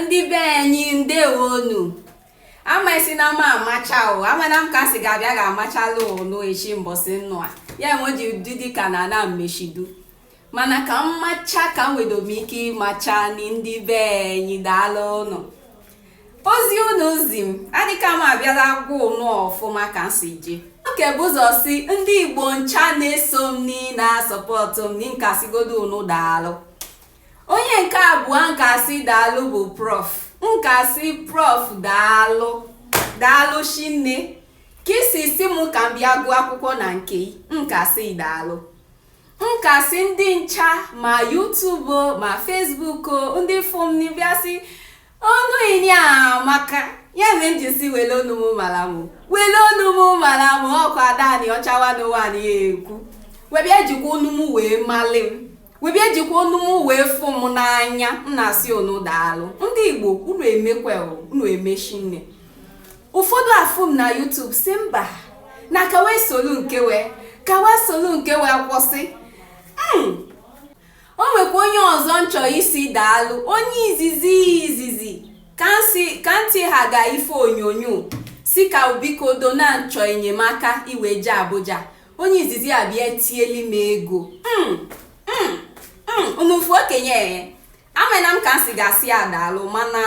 ndị be anyị ndewonu amaisi na ama amacha o amana m ka si ga-abịa ga-amachala ụnụ echi mbọsị nnụ a ya enwe ji ụdị dị ka na ana mmechidu mana ka m macha ka m wedo m ike ịmacha ni ndị be anyị daalụ ụnụ ozi ụnụ zi m adịka m abịala gwa ụnụ ọfụma ka m si je ka m bu ụzọ sị ndị igbo ncha na-eso m nị na-asọpọtụ m nị ka m sịgodo ụnụ daalụ Onye nke abụọ n ka-asị daalụ bụ prof. N ka-asị prof daalụ daalụ shinne ka i si sị m ka m bịa gụọ akwụkwọ na nke i n ka-asị daalụ n ka-asị ndị ncha ma YouTube ma Facebook ndị fụ m nị bịa sị onu i nị amaka ya mere m ji sị wele onu m mara m wele onu m mara m ọkwa Ada Aniọcha wa n'ụwa nị ya ekwu we bịa jikwa onu m wee mali m we bịa jikwa onu m wee fụ m n'anya m na-asị unu daalụ ndị igbo unu emeka unu emee shinne ụfọdụ afụ m na YouTube sị mba na ka wa esolu nke wee ka wa esolu nke wee kwụsị o nwekwa onye ọzọ n chọ ịsị daalụ onye izizi izizi ka n si ka ntị ha ga ife onyonyo sị ka biko do na n chọ enyemaka iwe je abuja onye izizi abịa tieli m ego mm, mm, mm, ọ bụ ofu okenye amana m ka n si ga-asị ya daalụ mana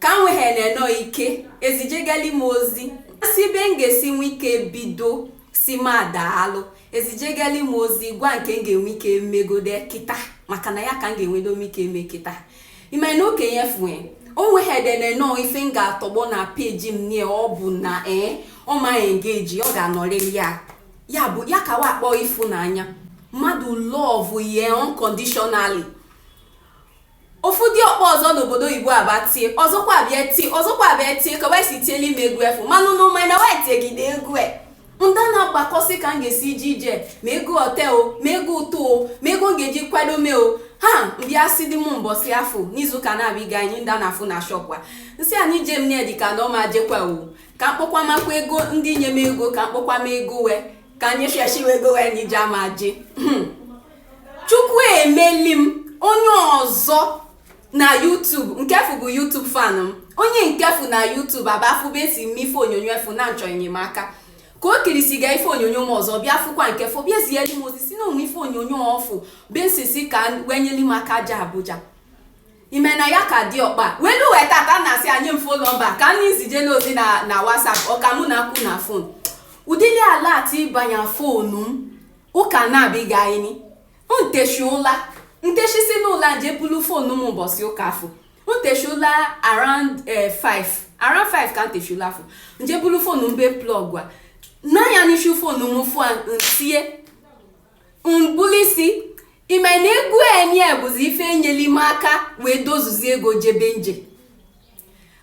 ka m wee na-enọ ike ezijegali m ozi sị be m ga-esi nwe ike bido sịma a daalụ ezijegali m ozi gwa nke m ga-enwe ike megode kịta maka na ya ka m ga-enwedo m ike eme kịta ime na okenye fue onwe ha edene nọọ ife m ga-atọgbọ na peji m nie ọ bụ na ee eh, ọ maghị engage ọ ga-anọrịrị ya ya bụ ya ka wa akpọ ịfụnanya mmadụ love ye unconditionally Ofu diọkpa ọzọ n'obodo oyibo abịa tie, ọzọkwa abịa tie, ọzọkwa abịa tie, ka we si tieli m ego efu. Manụ nụ ma na wee tiegide ego e. Nda na-agbakọsị ka m ga-esi ije ije ma ego hotel o, ma ego ụtụ o, ma ego m ga-eji kwado mee o. Ha m bịa sị di m mbọsị afụ n'izu ụka na-abịa ịga anyị nda na-afụ na shop wa. N sị a n'ije m nị adịka na ọ ma jekwa o. Ka m kpọkọmakwa ego ndị nye m ego ka m kpọkọma ego we. Ka anyị sheshi we ego we n'ije ama je. chukwu emeli m onye ọzọ na YouTube nke fụ bụ YouTube fan m onye nke fụ na YouTube abịa fụ be esi m ife onyonyo efu na n chọ enyemaka ka o kirisiga ife onyonyo m ọzọ bịa fụkwa nke fụ bịa zie m ozi sị na o nwe ife onyonyo ọ fụ be e si sị ka we nyeli m aka je Abuja ime na ya ka diọkpa welu wee tata n asị a nye m fon nọmba ka anyị zijela ozi na na WhatsApp ọ ka mụ na a kwu na fon ụdịrị alert banye fonu m ụka na-abịghị anyị nteshi ụla nteshi si n'ụla je bulu fonu m ụbọchị ụka afọ nteshi ụla around 5 eh, around 5 ka nteshi ụla afọ nje bulu fonu mbe plug a n'anya n'isi fonu m fụa ntie mbuli isi ime na egwu enyi bụzi ife enyeli m aka wee dozuzie ego jebe nje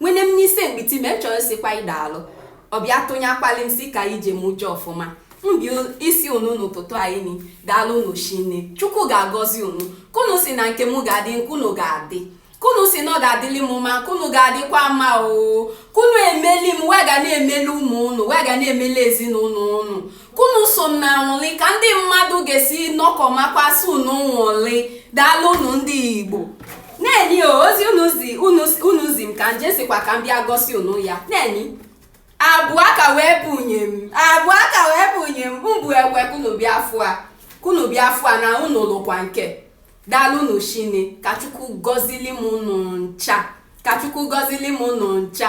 nwene m n'ise mkpiti me chọrọ sikwa ị daalụ ọ bịa tụnye akpali m si ka ije m je ọfụma mbi isi unu n'ụtụtụ anyị ni daalụ unu shinne chukwu ga-agọzi unu kunu si na nke m ga-adị nkunu ga-adị kunu si na ọ ga-adịli m mma kunu ga-adịkwa mma o kunu emeli m wee ga na-emeli ụmụ unu wee ga na-emeli ezinụlọ unu kunu so na nwụli ka ndị mmadụ ga-esi nọkọ makwasị unu nwụli daalụ unu ndị igbo na-enyi ozi unu zi m ka nje sikwa ka m bịa gosi unu ya na-enyi abụọ ka wee bunye m abụọ ka wee bunye m mbụ ekwe kunu bịa fụa kunu bịa fụa na unu lụkwa nke daalụ unu shinne ka chukwu gọzili m unu ncha